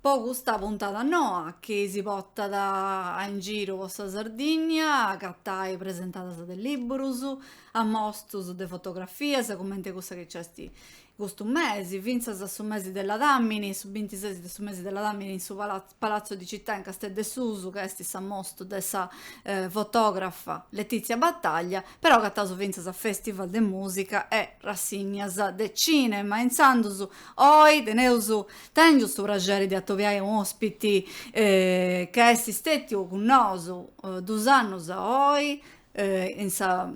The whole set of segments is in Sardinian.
po custa puntada noa chi si potat in giru po sa Sardìnnia agatai presentadas de libburus, ammostus de fotografias cumenti cussa chi nc'est custu mesi, fintzas a su mesi de Ladàmini, su bintises de su mesi de Ladàmini in su Palazzo di Città in Casteddu 'e Susu ca est s'ammostu de sa fotografa Letizia Battaglia, però agataus fintzas a festival de musica e rassignas de cinema, intzandus Oi teneus tèngiu su praxeri de atobiai un'òspiti ca est stètiu cun nosu duus annus a oi in sa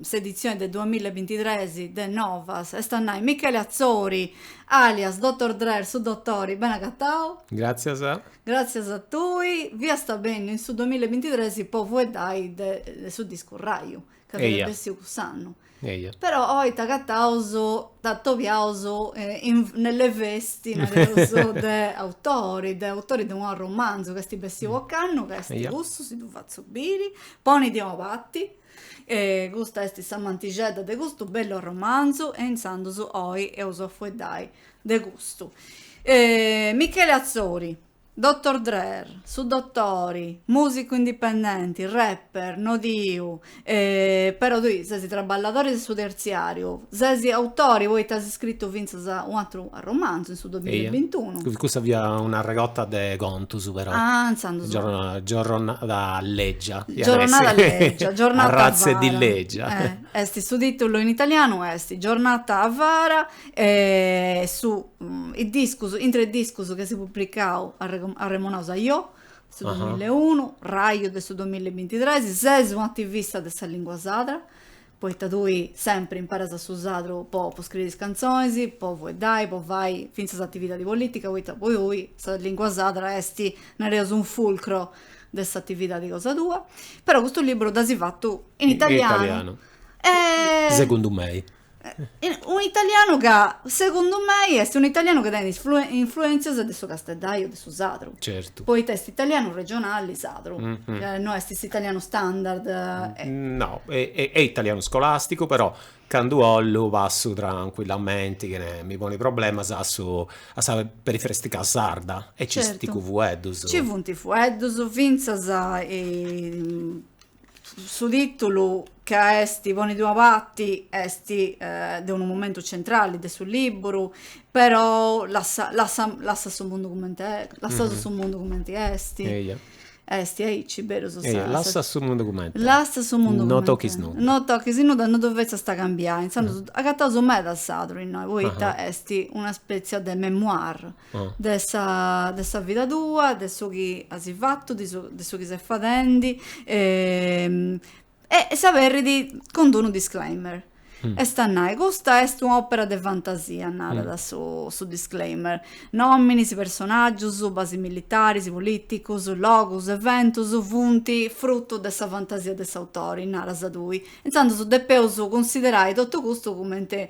s'editzioni de duamilla e bintitres de Novas, est a nai Michele Atzori alias Dotor Drer su dotori, beni agatau. Gràtzias. Gràtzias a tui, fiasta benniu in su duamilla e bintitres po fueddai de su discu Raju ca fiat bessiu cuss'annu. Eja. Però oi t'agataus, t'atobiaus in nelle vesti, nareus, de autori, de autori de unu arromanzu chi est bessiu ocannu, ca est custu, si ddu fatzu biri, Ponidì a una parti, custa est sa mantixedda de custu bellu arromanzu e intzandus oi eus a fueddai de custu. Michele Atzori. Dotor Drer, su dotori, musicu indipendenti, rapper, nodiu, e però tui sesi traballadori de su terziariu, sesi autori poita as scritu fintzas un'atru arromanzu in su duamilla e bintunu. Eia, cussa fia una arregotta de contus però. Ah, intzandus. Giorro, giorronada leggia. Giorronada leggia, giornata avara. Arratza 'e dì leggia. Esti su titulu in italianu esti, Giornata avara, E su is discus, intre is discus chi as publicau arremonaus Ajò, de su duamilla e unu, Raju de su duamilla e bintitres, ses un'ativista de sa lìngua sadra, poita tui sempri imperas su sadru po po scriri is cantzonis, po fueddai, po fai fintzas atividadi polìtica, poita po tui sa lìngua sadra est, nareus, un fulcro de s'atividadi cosa tua. Però custu liburu dd'as fatu in italianu. In italianu. E. Segundu mei. Un'italianu ca, segundu mei, est un'italianu chi tenit influentzias de su casteddaju de su sadru. Certu. Poita est italianu regionali sadru. No est s'italianu standard. No, est italianu scolasticu, però candu 'ollu passu trancuillamenti, chene mi poni problemas, a su a sa perifràstica sarda e nci funt i fueddus. Nci funt i fueddus, fintzas Su tìtulu ca est Ponidì a una parti est de unu momentu centrali de su lìburu, però lassa, lassa, lassa su mundu cumenti est, lassa mhm. su mundu cumenti est. Eia. Est aici, beru su Eia, lassa su mundu cumenti est. Lassa su mundu no tochis nudda. No tochis nudda, no ddu fetzas a cambiai. Intzandus, mhm. agataus meda sadru innoi, poita est una spètzia de memoir. de sa de sa vida tua, de su chi asi fatu, de su de su chi ses fadendi e e s'aberit cun d-unu disclaimer. Est a nai, custa est una opera de fantasia, narat su su disclaimer. Nominis, personaggius, basi militaris, politicus, logus, eventus funt frutu de sa fantasia de s'autori, naras tui. Intzandus depeus cunsiderai totu custu cumenti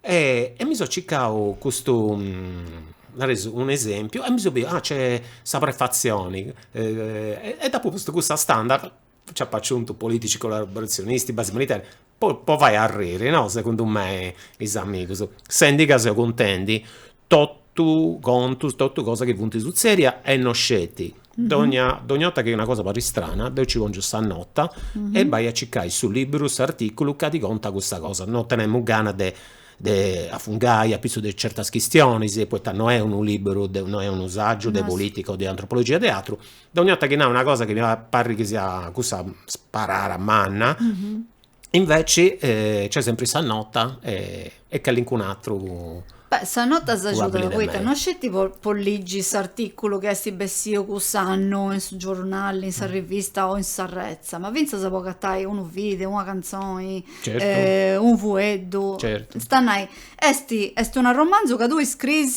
E mi so circau custu, nareus, unu esempiu e mi seu biu, ah nc'est sa prefatzioni e dd'apu postu cussa standard, nci apu aciuntu politici collaborazionisti, basi militari, po fai arriri no, segundu mei, is amigus. Sendi ca seu cuntendi totu contus, totu cosa chi funt sutzèdia e no sceti. Dogna 'orta chi est una cosa chi parit istrana, deu nci pòngiu sa nota e b'ai a circai su liberu, s'artìculu ca ti contat cussa cosa. No tenemu gana de de afungai apitzus de certas chistionis, poita no est unu liberu de, no est unu sagiu de politica o de antropologia o de atru. Dogna 'orta chi nau una cosa chi mi parit chi siat cussa sparada manna Inveci c'è sempri sa nota a calincun atru. Beh, sa nota s'agiudat poita no sceti po ligi s'artìculu chi est bessiu cuss'annu in su giornali, in sa rivista o in sa retza, ma fintzas po agatai unu video, una cantzoni, unu fueddu, est a nai, est unu arromanzu ca tui scriis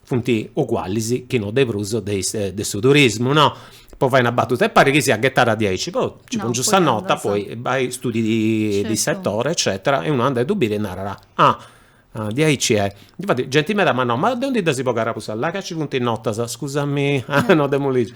Funt ugualis chi no de prus de is de su turismu, no? Po fai una battuta e parit chi siat ghettada diaici, però nci pòngiu sa nota, poi vai studi di settore eccetera e unu andat a ddu biri e narat, ah diaici est. Difatis genti meda m'at nau, ma de undi ddas as bogadas custas, la', ca nci funt notas, scusami, no dd'as lìgiu.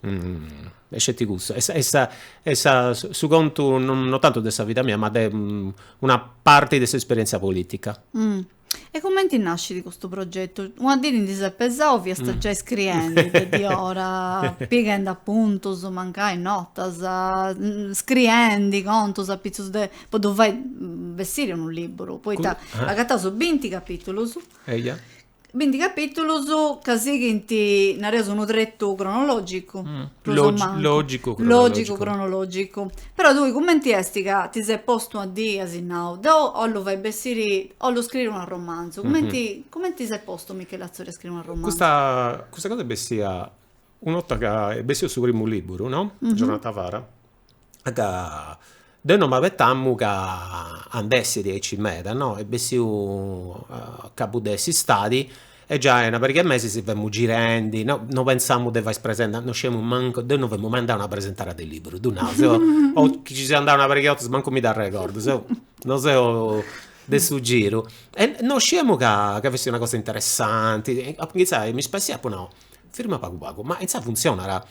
e sceti custu est est sa est sa su contu no tantu de sa vida mia ma de una parti de s'esperientzia politica. E cumenti nascit custu progetu? Una dì ti ndi ses pesau fiast giai scriendi de diora pighendi apuntus mancai notas scriendi contus apitzus de po ddu fai bessiri unu libburu poita agataus binti capitulus Binti capìtulus ca sighint, nareus, unu tretu cronològicu, prus o mancu, lògicu cronològicu, cronològicu. Però tui cumenti est ca ti ses postu a ddi, asi nau, deu 'ollu fai bessiri, 'ollu scriri un arromanzu, cumenti, cumenti ti ses postu Michele Atzori a scriri un arromanzu? Custa, custa cosa est bessia, una 'orta ca est bessiu su primu libburu, no? Giornata fara, ca deu no m'abetamu ca andessit aici meda no, est bessiu a cabu de s'istadi e giai una pariga 'e mesis femus girendi, no no pensamu de fai is presentaras, no sciemu mancu, deu no femu mai andau a una presentara de liberu, ddu nau, seu o chi ci seu andau una pariga 'e 'ortas mancu mi dd'arregordu, seu no seu de su giru e no sciemu ca fessit una cosa interessanti, apu ingitzau a mi spassiai e apu nau firma pagu pagu, ma insaras funtzionat,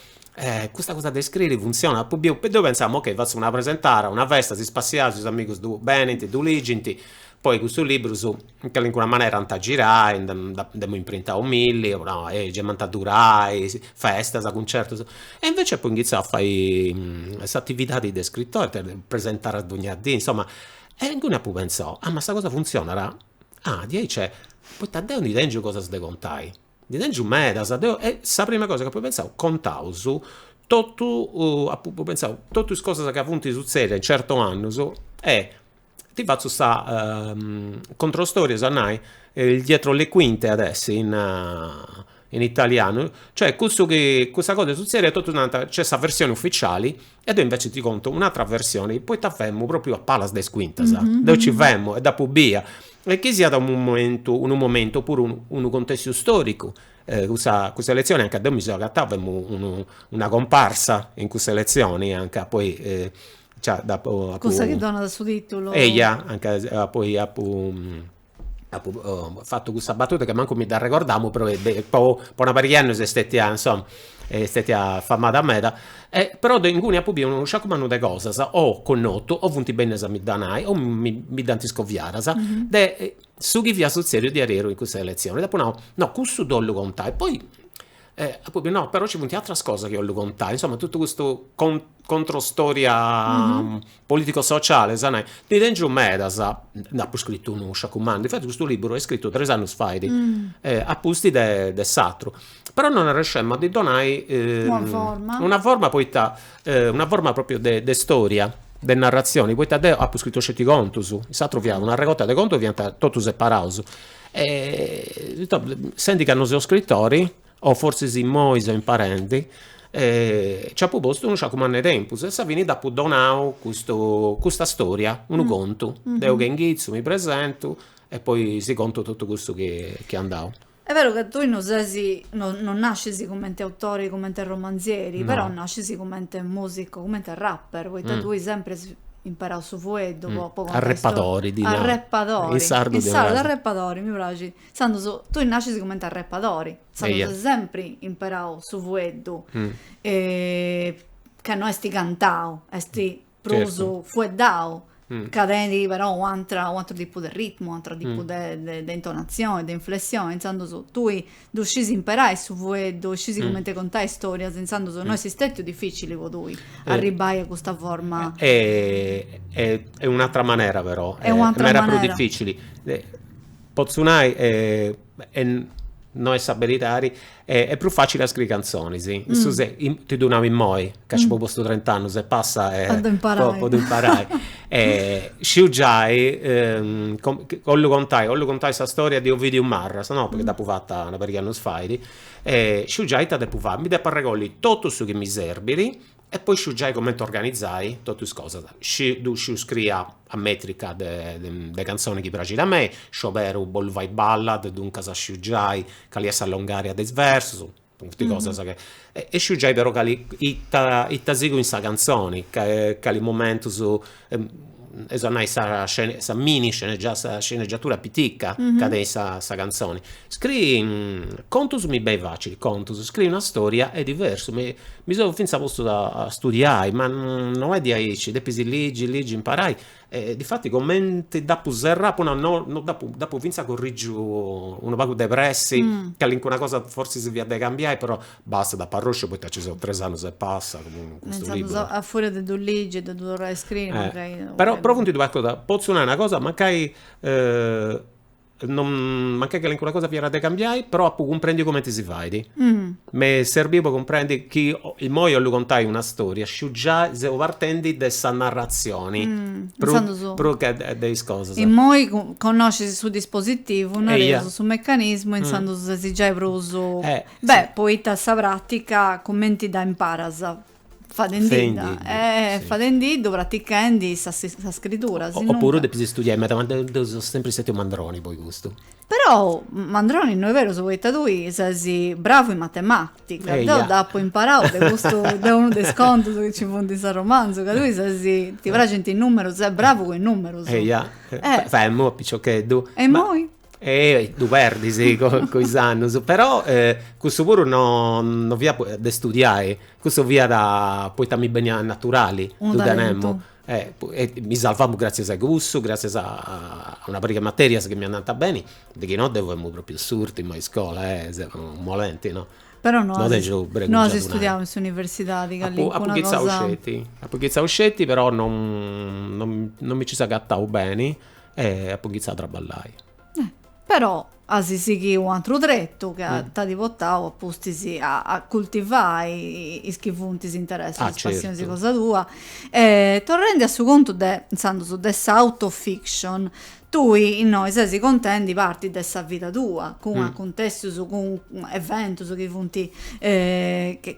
custa cosa de iscriri funtzionat, apu biu, deu pentzamu, ok, fatzu una presentara, una festa, si spassiaus is amigus ddu benint, ddu ligint, poi cussus liburus in calincuna manera ant a girai, nd'amus imprintau milli, apu nau, ehi gei m'ant a durai, festas, cuncertus, e invecias apu ingitziau a fai s'atividadi de scrittori, de presentaras donnia dì, insoma, e inguni apu pentzau, ah ma sa cosa funtzionat, ah diaici est, poita deu ndi tengiu cosas de contai, ndi tengiu medas, deu e sa prima cosa chi apu pentzau, contaus totu, apu pentzau totu is cosas chi funt sutzedias in certus annus e ti fatzu sa controstoria, ossiat a nai, il dietro le quinte at essi in italianu, cioè cussu chi, cussa cosa est sutzèdia e totus narant, nc'est sa versioni ufficiali E deu invece ti contu un'atra versione, poita femu propriu a palas de is cuintas, deu nci femu e dd'apu bia, e chi siat unu momentu, unu momentu opuru unu contestu storicu, cussa cussa elezioni anca deu mi seu agatau, femu unu una comparsa in cussa elezioni anca poi gei dd'apu, apu. Cussa chi donat su titulu. Eia, anca poi apu apu fatu custa batuta chi mancu mi dd'arregordàmu però po po una pariga 'e annus est stètia insoma est stètia famada meda e però deu inguni apu biu unu sciacu mannu de cosas o connotu o funt bennidas a mi dda nai o mi mi dd'ant iscoviadas de su chi fiat sutzèdiu diaderus in cussa eletzioni, deu apu nau no cussu ddu 'ollu contai, poi E apoi, no, però ci funt atras cosas chi 'ollu contai, insoma, totu custu controstoria politico-sociale, sa nai, ndi tengiu medas, nd'apu scritu unu sciacu mannu, infatis custu liburu est scritu tres annus fait, apusti de de s'atru, però non arrenescemu a ddi donai una forma, una forma poita, una forma propriu de de storia, de narratzioni, poita deu apu scritu sceti contus, in s'atru fiat un'arregorta de contus chi fiant totus separaus E sendi ca no seu scritori, o fortzis immoi seu imparendi, nci apu postu unu sciacu mannu 'e tempus e a sa fini dd'apu donau custu custa storia, unu contu. Deu che inghitzu, mi presentu e poi si contu totu cussu chi est andau. Est beru ca tui no ses, no no nascis cumenti autori, cumenti romanzieri, però nascis cumenti musicu, cumenti rapper, poita tui sempri imperau su fueddu po po contai is Arrepadori, ddi nau. Arrepadori. In sardu In ddi sardu naras. arrepadori, mi praxit. Intzandus tui nascis cumenti arrepadori. Intzandus Eia. as sempri imperau su fueddu. E ca no esti cantau, esti prus Certu. fueddau. Ca tenit però u' atrau u' atru tipu de ritmu, u' atru tipu de de de intonazioni, de inflessioni. Intzandus tui Ddu scis imperai su fueddu e scis cumenti contai storias, intzandus no est stètiu dificili po tui arribbai a custa forma. Est un'atra manera però, meda prus dificili, potzu nai e no est sa beridadi, est prus facili a scriri cantzonis, in su sensu, ti ddu nau immoi, ca nci apu postu trent'annus e passa e po ddu imparai e sciu giai ollu contai ollu contai sa storia de Ovidiu Marras no, poita dd'apu fata una pariga annus fait e sciu giai ita depu fai, mi depu arregolli totu su chi mi serbit e poi sciu giai cumenti organizai totu is cosas, ddu sciu scriri a metrica de cantzoni chi praxit a mei, scioberu bollu fai ballad, duncas sciu giai cali est sa longaria de is versus. Funt cosas chi. E sciu giai però cali, ita, ita sigu in sa cantzoni, cali momentus, eus a nai sa scene, sa mini scenegia, sa scenegiatura pitica ca tenit sa sa cantzoni. Scrii contus mi benit facili, contus, scrii una storia est diversu, mi mi seu finzas postu a studiai, ma no est diaici, depis ligi, ligi, imparai E difati comenti dd'apu serrau, po no no no dd'apu, dd'apu fintzas corrìgiu unu pagu de pressi, calincuna cosa fortzis fiat de cambiai, però bastat, apu arròsciu poita nci seu tres annus e passa cun custu liburu. Pentzaus a furia de ddu ligi e de ddu torrai a scriri mancai. Però, però funt duas cosas, potzu nai una cosa, mancai mancai calincuna cosa fiat de cambiai, però apu cumprendiu cumenti si fait. M'est serbiu po cumprendi chi immoi 'ollu contai una storia, sciu giai seu partendi de sa narratzioni prus che de is cosas. Immoi connoscis su dispositivu, nareus su mecanismu e intzandus ses giai prus, beh, poita sa pràtica cumenti dda imparas? fadendidda, eh, fadendiddu, pratichendi sa scritura, si no. O puru depis istudiai meda, ma deu seu sempri stetiu mandroni po i custu. Però mandroni no est berus poita tui ses bravu in matematica, deu dd'apu imparau de custu, de unu de is contus chi nci funt in s'arromanzu, ca tui ses, ti praxint is numerus, ses bravu cun is numerus. Eia, femu a piciocheddu. E imoi? Ehi, ddu perdis cun is annus. Però cussu puru no fiat de studiai, cussu fiat poita mi beniat naturali, ddu tenemu. E mi sarvamu gratzias a cussu, gratzias a una pariga de materias chi mi andànt beni, de chi no deu femu propriu s'urtimu a iscola, seus molenti, no. Però no as studiau in s'universidadi, calincuna cosa. Apu inghitzau sceti, apu inghitzau sceti, però non mi nci seu agattau beni E apu inghitzau a traballai. Però as sighiu u' antru tretu ca t'at portau a pustis a cultivai is chi funt is interessus, is passionis cosa tua. Torrendi a su contu de intzandus de s'autofiction, tui innoi ses contendi parti de sa vida tua, cun acuntessius, cun eventus chi funt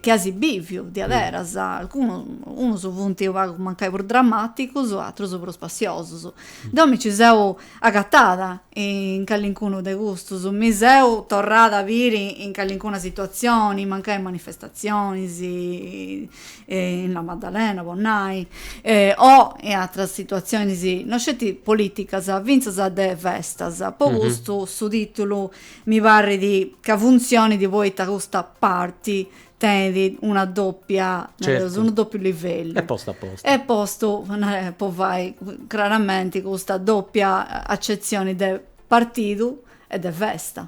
chi as biviu diaderus, alcunus, unus funt u' pagu mancai prus dramaticus, atrus prus spassiosus. custus. Deu mi ci seu agatada in callincunu de custus, mi seu torrada a biri in callincuna situatzioni, mancai in manifestatzionis, in La Maddalena po nai, o in atras situatzionis, no sceti polìticas, fintzas de festas. Po custu su tìtulu mi parrit ca funtzionit poita custa parti tenit una doppia, nareus, unu doppiu livellu. Est postu a postu. Est postu po fai craramenti custa doppia accezioni de partidu e de festa.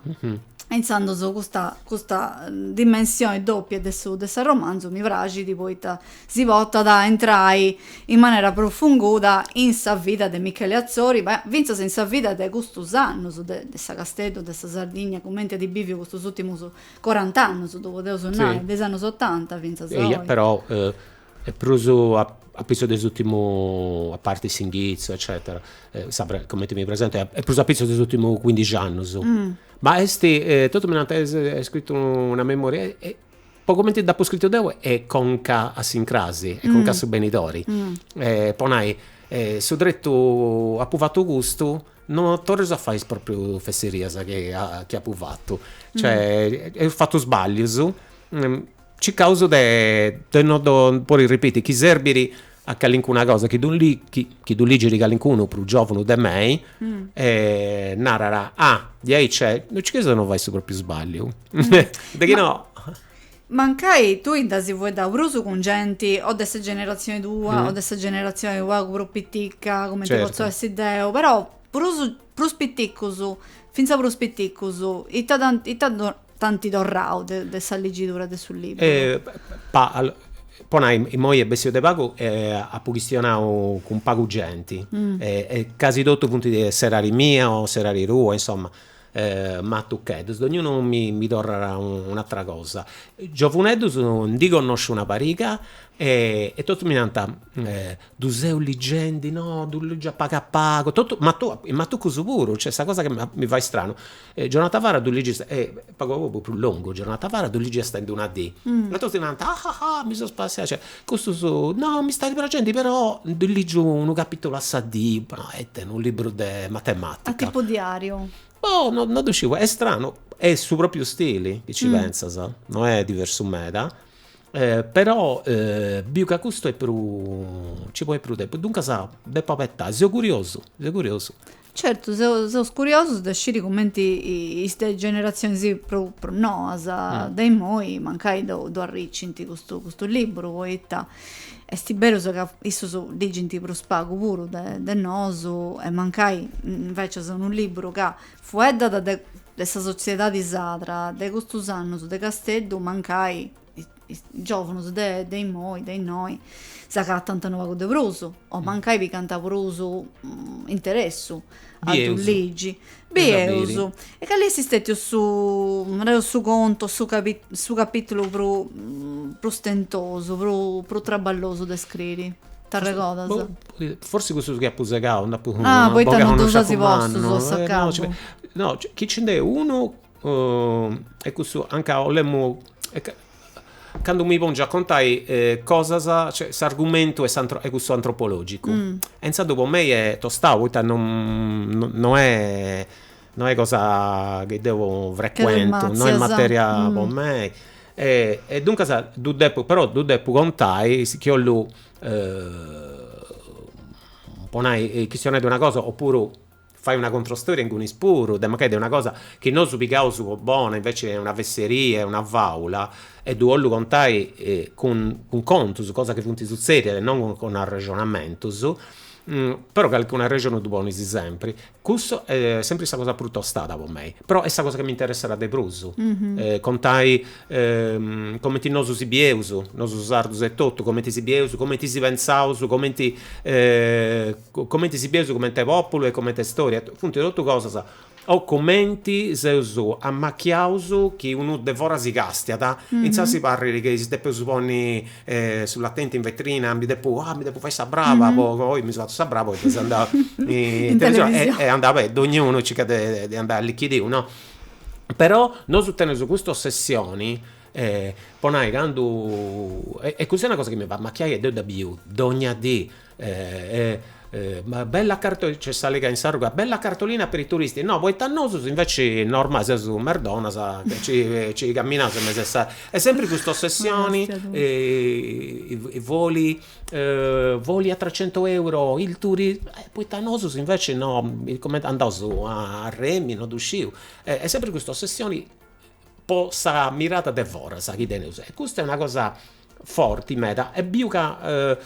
E intzandus custa custa dimensioni doppia de su de s'arromanzu mi praxit poita si portat a intrai in manera profunguda in sa vida de Michele Atzori, ma fintzas in sa vida de custus annus de de sa Casteddu, de sa Sardigna, cumenti at biviu custus urtimus Corant'annus ddu podeus nai, de is annos otanta fintzas a oi. Eia, però est prus apitzus de s'ùrtimu, a parti s'inghitzu eccetera, sa cumenti mi presento, est prus apitzus de is ùrtimus cuindixi annus. Ma est, totus mi nant, as scritu una memoria, po cumenti dd'apu scritu deu est conca a s'incrasi, est conca a su benidori. Po nai, su tretu, apu fatu custu No torreis a fai is propriu fesserias chi apu fatu, cioè eus fatu sballius circaus de de no ddu podi ripiti, chi serbiri a calincuna cosa chi ddu chi ddu ligiri calincunu prus giovanu de mei narat, ah diaici nc'est, no nci cherus a no fai su propriu sballiu, de chi no Mancai tui dda as fueddau prusu cun genti o de sa generatzioni tua o de sa generatzioni unu pagu prus piticca, cumenti potzu Certu. essi deu, però prusu prus piticus, finza prus piticus, ita t'ant ita do t'anti torrau de de sa liggidura de su liburu? pa allo po nai, immoi est bessiu de pagu e apu chistionau cun pagu genti e e casi totu funt de s'edadi mia o s'edadi tua, insoma E matucheddus, dognunu mi torrat un'atra cosa. Giovuneddus ndi connosciu una pariga e totus mi nant, ddu seu ligendi, no, ddu ligiu a pagu a pagu, totus, i matucus puru, cioè sa cosa chi mi fait stranu, Giornal Tavara ddu ligiu, pagu a pagu est prus longu, Giornal Tavara ddu ligiat ind una dì, e totus nant, ah ah ah mi seu spassiau Custu no, mi stat praxendi però ndi ligiu unu capitulu a sa dì, ma e ita est, unu liburu de matematica. A tipu diariu. Boh, no ddu sciu, est stranu, est su propriu stili, chi ci pentzas, no est diversu meda, però biu ca custu est prus, nci ponit prus tempus, duncas depu abetai, seu curiosu, seu curiosu Certu, seus curiosus de sciri cumenti is de generatzionis prus noas de imoi mancai ddu arricint custu liburu, poita est beru ca issus ligint prus pagu puru de nosu e mancai invecias unu liburu ca fueddat de sa sotziedadi sarda de custus annus de Casteddu mancai is giòvunus de de immoi, de innoi, s'agatant unu pagu de prus, o mancai pigant prus interessu a ddu Bieus. ligi. Est a biri. Bieus. E cali est stètiu su, nareus, su contu o su capi su capìtulu prus prus tentosu, prus prus traballosu de scriri? T'arregodas? Boh, forsis cussus chi apu segau, nd'apu Ah, poita boga non ddus connosciu as postus a mannus. Eh, no, nci a s'acabu? no, chi nci nd'est unu e cussu anca 'olemu candu mi pongiu a contai cosas, cioè s'argumentu 'e cussu antropologicu e intzandus po mei est tostau poita no est no est cosa chi deu frecuentu, no est materia po mei e duncas ddu depu però ddu depu contai chi 'ollu po nai chistionai de una cosa opuru fai una controstoria ingunis puru, de mancai de una cosa chi nosu pigaus po bona, inveci est una fesseria e una fàula, e ddu 'ollu contai cun cun contus, cosas chi funt sutzèdias e non cun cun arrexonamentus, però calchi arrexonu ddu ponis sempri. Cussa est sempri sa cosa prus tostada po mei, però est sa cosa chi m'interesserat de prus, contai cumenti nosu si bieus, nosu sardus etotu, cumenti si bieus, cumenti si pentzaus, cumenti Comenti si bieus comenti populu e comente storia funti totu cosas o comenti seus amachiaus chi unu de fora si castiat intzasi parrit chi si depeus ponni su talentu in vetrina mi depu ah mi depu fai sa brava po oi mi seu fatu sa brava oi deu seu andau in televisioni e andau beni dognunu circat de andai a lichidiu no però nosu teneus custa ossessioni po nai candu e cussa est una cosa chi mi fait amachiai e deu dda biu dogna dì bella cartolina, nc'est sa àlega in s'arruga, bella cartolina per i turisti, no, poita a nosu inveci normalis seus merdonas nci caminaus in mesu 'e sa, e sempri custa ossessioni voli voli a trecento euro il turi, poita a nosu inveci no, cumenti andaus a remi, no ddu sciu, e sempri custa ossessioni po sa mirada de foras chi teneus e custa est una cosa forti meda e biu ca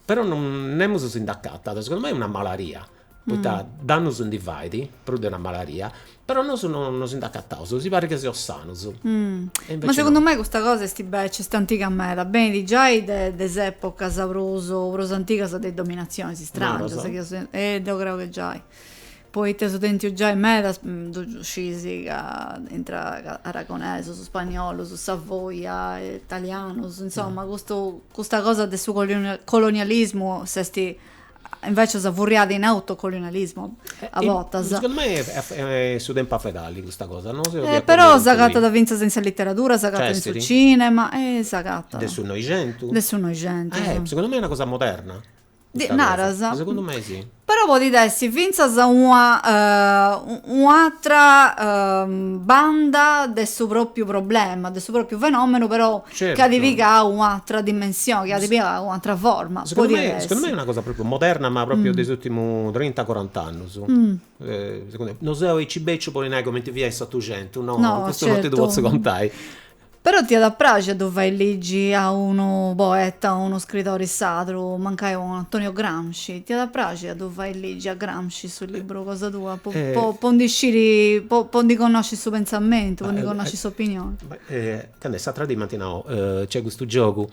però nemus si nd'acatat, segundu mei est una malaria, poita dannus ndi fait, prus de una malaria, però nosu no si nd'acataus, si parit ca seus sanus. Ma segundu mei custa cosa est invece est antiga meda, benit giai de is epocas prus antigas de is dominazionis, is strangias chi eus, deu creu chi giai, Poita eus tentu giai medas ddu scisi ca intra aragonesus, spagnolus, savoia, italianus, insoma, custu custa cosa de su colonialismu s'est invecis furriada in autocolonialismu a bortas. Segundu mei est su tempus a fai custa cosa, no seus de acordiu cun tui. Però s'agatat fintzas in sa literadura, s'agatat in su cinema, s'agatat. De su Noixentu? De su Noixentu. Segundu mei est una cosa moderna. Di, naras. Ma segundu mei si. Però podit essi fintzas una un'atra banda de su propriu problema, de su propriu fenomenu, però Certu. chi at pigau un'atra dimensioni, chi at pigau un'atra forma. Segundu mei, segundu mei est una cosa propriu moderna, ma propriu de is urtimus trinta coranta annus. Segundu mei, no seu deu aici beciu po nai cumenti fiat in s'otuxentu, no, custu non ti ddu potzu contai. Però t'iat a praxi a ddu fai ligi a unu poeta, unu scridori sadru, mancai unu Antonio Gramsci, t'iat a praxi a ddu fai ligi a Gramsci su libru cosa tua, po po po ndi sciri, po po ndi connosci su pentzamentu, po ndi connosci s'opinioni? Ca nc'est s'atra dì m'ant nau, nc'est custu giogu,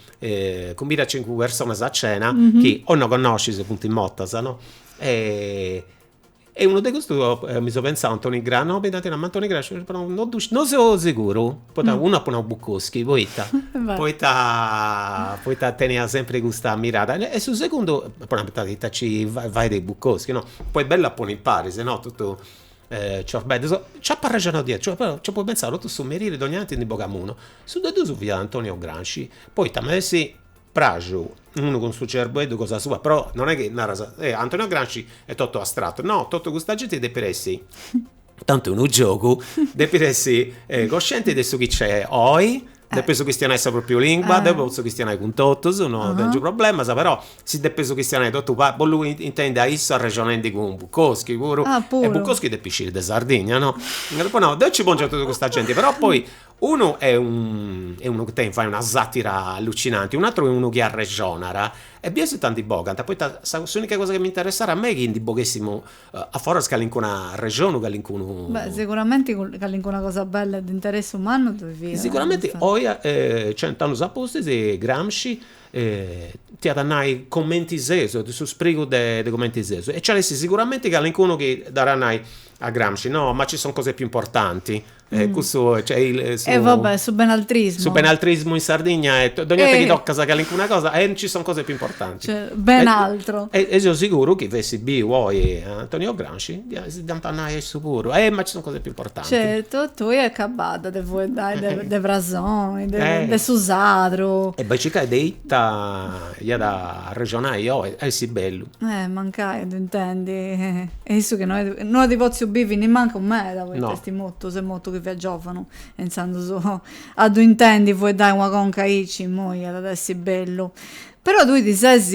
cumbida cincu personas a cena chi o no connoscis o funt mortas, no, E unu de custus mi seu pentzau Antoni Gramsci, no mi dd'ant nau ma Antoni Gramsci sceti però no ddu sciu, no seu seguru, poita unu apu nau Bukowski poita poita poita tenia sempri custa mirada e su segundu apu nau poita ita ci fait de Bukowski no, poi bellu a ponni impari is...no totu ciorbeddus, nci apu arrexonau diaici, cioè però nci apu pentzau totu su merì dogna tanti ndi bogamu unu, su de dus fiat Antonio Gramsci, poita m'est Praxu, unu cun su cerbeddu cosa sua, però non è chi naras, eh, Antonio Gramsci est totu astrattu, no, totu custa genti depit essi, tantu unu giogu, depit essi coscienti de su chi nc'è oi, depis chistionai sa propriu lingua, deu potzu chistionai cun totus, no tengiu problemas, però si depis chistionai totu pagu, bollu intendi a issu arrexonendi cun Bukowski puru, e Bukowski depit sciri de Sardigna, no, deu nci pongiu a totu custa genti, però poi Unu est unu chi ti fait una satira allucinanti, un'ateru est unu chi arrexonat e biesi ita ndi bogant, poita s'unica cosa chi mi interessat a mei est chi ndi boghessimu a foras calincunu arrexonu, calincunu. Beh siguramenti calincuna cosa bella e de interessu mannu ddu fiat. Siguramenti oi cent'annus a pustis Gramsci ti at a nai cumenti seus e de su sprigu de cumenti seus e nci at a essi siguramenti calincunu chi dda at a nai a Gramsci no ma ci sono cose più importanti Cussu e va bè su benaltrismu. Su benaltrismu in Sardigna e dogna 'orta chi tocas calincuna cosa eh ci sono cose più importanti. Cioè ben altro. E seu siguru chi fessit biu oi Antonio Gramsci si dd'ant a nai a issu puru, eh ma ci sono cose più importanti. Certo, tui acabadda de fueddai de frasoni, de su sardu. E bai e circa de ita iat a arrexonai oi, iat a essi bellu. Eh, mancai a ddu intendi. E issu chi no est, no at potziu bivi nimancu meda, poita No. est mortu, s'est mortu chi fiat giòvanu, e intzandus a ddu intendi fueddai una conca aici, immoi, iat a essi bellu. Però tui ti ses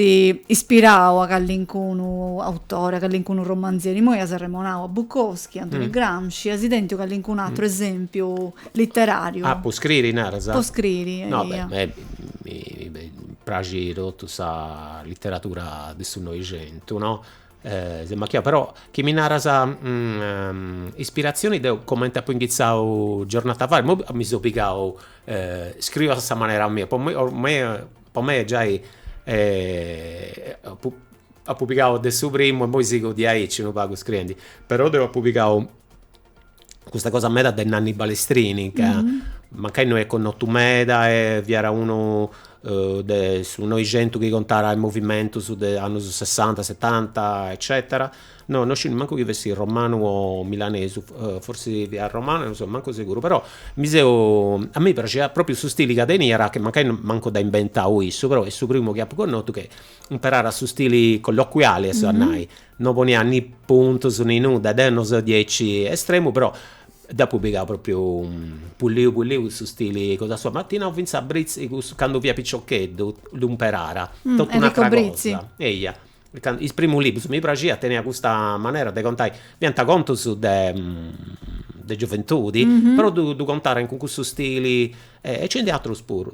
ispirau a callincunu autore, a callincunu romanzieri? Immoi as arremonau a Bukowski, Antoni Gramsci, as tentiu callincunu ateru esèmpiu literàriu? Ah, po scriri, naras? Po scriri, No, eia. beh, mi praxit totu sa literatura de su Noixentu no seu amachiau però chi mi naras ispiratzioni deu comenti apu inghitzau giornata fai imoi mi seu pigau scriu a sa manera mia po mei po mei po mei giai apu apu pigau de su primu e imoi sigu diaici unu pagu scriendi però deu apu pigau custa cosa meda de Nanni Balestrini ca mancai no est connotu meda e fiat unu de su Noixentu chi contat is movimentus de annus sessanta setanta eccetera no no sciu nemmancu chi fessit romanu o milanesu forsis fiat romanu non seu mancu seguru però mi seu a mei praxiat propriu su stili ca teniat chi mancai mancu dd'at inventau issu però est su primu chi apu connotu chi imperat su stili colloquiali est a nai No poniat ni puntus ni nudda, deu no seu diaici estremu però dd'apu pigau propriu pulliu pulliu in su stili cosa sua, ma ti nau finzas Brizzi cussu candu fia piciocheddu ddu imperara, totu un'atra cosa, eia, is primus liburus mi praxiat teniat custa manera de contai, fiant contus de gioventudi, però ddu ddu contarent cun cussu stili e nci ndi atrus puru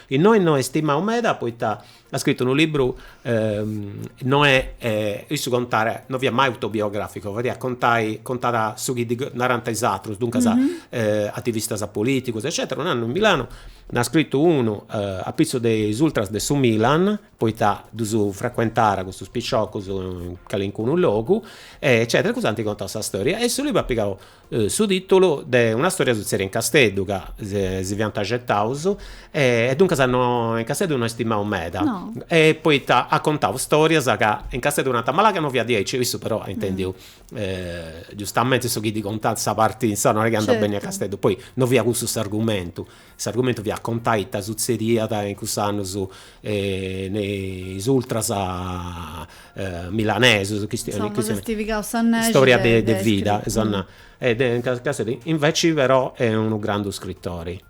Innoi no est stimau meda poita at scritu unu libru no est issu contàt no fiat mai autobiografico fadiat contai contàt su chi ddi narànt is atrus duncas ativistas polìticus eccetera unu annu in Milano nd'at scritu unu apitzus de is ultras de su Milan poita ddus frecuentàt custus piciocus in calincunu logu eccetera e cussus ant contau sa storia e su libru at pigau su tìtulu de una stòria sutzèdia in Casteddu, ca si fiant axetaus e duncas no, in Casteddu no est stimau meda. No. E poita at contau stòrias ca in Casteddu nant, ma là ca no fiat diaici, issu però at intendiu giustamenti su chi ddi contànt sa parti insaras, no est chi andat beni a Casteddu, poi no fiat cussu s'argumentu S'argumentu fiat contai ita sutzediat in cussus annus me is ultras milanesus, Insoma po essi pigaus sa nexi Storia de vida e de in Cassari, inveci però est unu grandu scritori.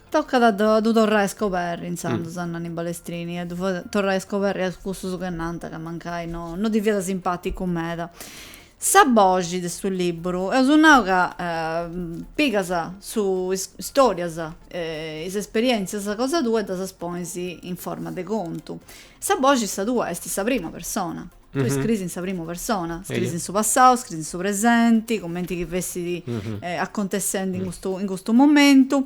Tocat a ddu torrai a scoberri intzandus a Nanni Balestrini e a ddu fai torrai a scoberri a cussus chi nant ca mancai no ddi fiat simpaticu meda. Sa boxi de su liburu eus nau ca pigas su is storias e is esperientzias cosa tua e ddas ponis in forma de contu. Sa boxi sa tua est in sa prima persona, tui scriis in sa prima persona, scriis in su passau, scriis in su presenti, cumenti chi fessit acontessendi in custu in custu momentu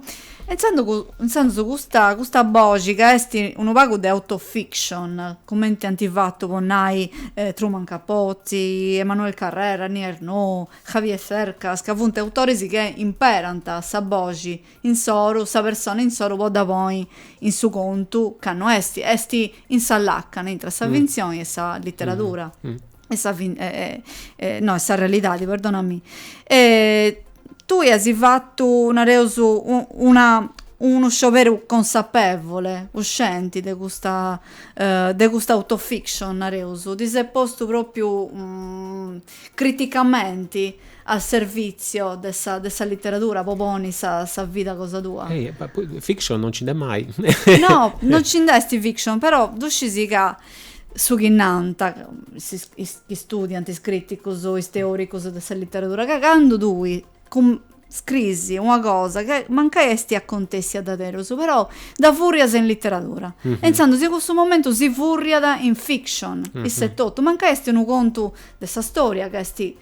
Intzandus custa custa boxi ca est unu pagu de autofiction, cumenti ant fatu po nai Truman Capote, Emmanuel Carrère, Annie Ernaux, Javier Cercas, ca funt autoris chi imperant sa boxi insoru, sa persona insoru po dda ponni in su contu ca no est, est in sa làcana intre sa fintzioni e sa literadura. e sa fin- e, e, e, no, e sa realidadi, perdonami. E tui asi fattu, nareus, u- una, unu scioberu consapevole, cuscienti de custa, eh, de custa autofiction, nareus, ti ses postu propriu criticamenti a servizio de sa, de sa litteradura, po poni sa, sa vida cosa tua? Eh, ma poi fiction non nci nd'est mai. No, non nci nd'est fiction, però ddu scisi ca su chi nant is chi studiant, is crìticus o is teòricus de sa literadura, ca candu tui scriis una cosa ca mancai esti acontèssia diaderus, però dda fùrrias in literadura e intzandus in cussu momentu si fùrriat in fiction, issa etotu, mancai esti unu contu de sa storia ca esti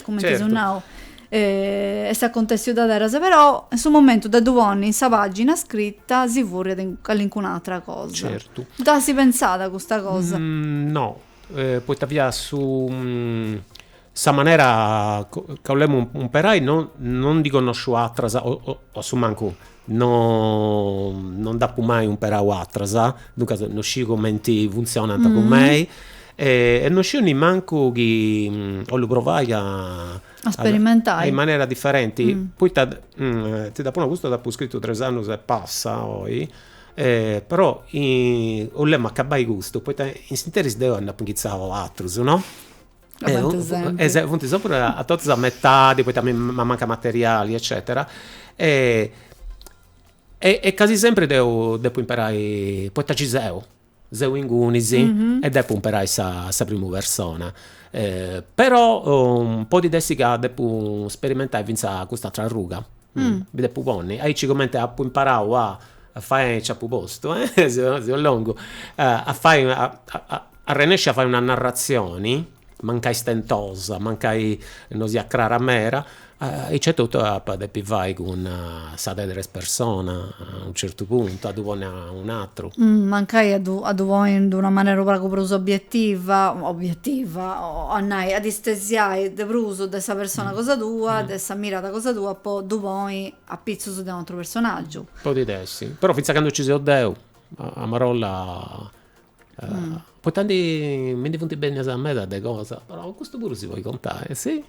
cumenti Certu. seu nau, eh, est acontessiu diaderus, però in su momentu de ddu ponni in sa pàgina scrita si furriat in calincuna atra cosa. Certu. Dd'as pentzada custa cosa? No, poita fiat su sa manera ca 'olemu imperai, no no ndi connosciu atras o o asumancu No no nd'apu mai umperau atras, duncas no sciu cumenti funtzionant po mei e e no sciu nimancu chi 'ollu provai a a sperimentai in manera diferenti poita ti dd'apu nau, custu dd'apu scritu tres annus e passa oi e però 'olemu acabai custu poita in s'interis deu nd'apu inghitzau atrus no Funt sempri totus a metadi poita mi mancat materiali eccetera e e casi sempri deu depu imperai poita ci seu, seu ingunis e depu imperai sa sa primu persona però podit essi ca depu sperimentai finzas cust'atera arruga Mi depu ponni. Aici cumenti apu imparau a fai, nci apu postu, seu longu, a fai, arrennesci a fai una narratzioni, mancai stentosa, mancai non siat crara mera, aici etotu apa depi fai cun sa de tres persona A unu certu puntu, a ddu ponni a un'atru. Mancai a ddu a ddu ponni in d'una manera unu pagu prus obbietiva, obbietiva, a nai, a istesiai de prus de sa persona cosa tua, de sa mirada cosa tua po ddu ponni a pitzus de u' atru personaggiu. Podit essi, però finzas candu nci seu deu, a marolla Poita ndi mi ndi funt bennias medas de cosas, però custu puru si podit contai, si?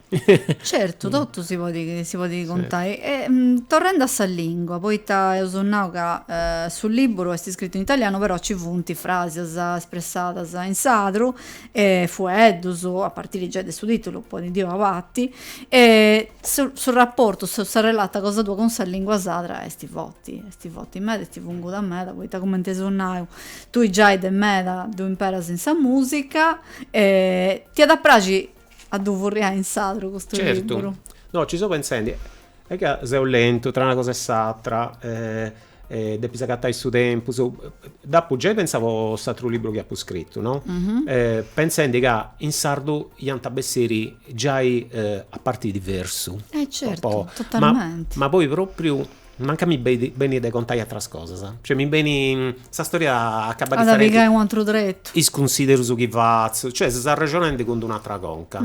Certu, totu si podit si podit contai. E torrendi a sa lingua, poita eus nau ca su libburu est scritu in italianu però nci funt frasias espressadas in sardu e fueddus, a partiri giai de su titulu, po ndi nai, e su su rapportu, sa sa relata cosa tua cun sa lingua sarda est forti, est forti meda, est funguda meda, poita cumenti eus nau tui giai de meda ddu imperas in sa musica e ti iat a praxi a ddu furriai in sardu custu liburu? Certu. No, nci seu pentzendi. Est ca seu lentu tra una cosa e s'atra e depis agatai su tempus. Dd'apu giai pentzau po s'atru liburu chi apu scritu, no? Pentzendi ca in sardu iant a bessiri giai a partis diversu. E certu, totalmenti. Ma poi propriu Mancai mi benit de contai atras cosas. Cioè mi beni, sa storia acabat At a pigai un'atru tretu. is cunsiderus chi fatzu, cioè ses arrexonendi cun d'una atra conca.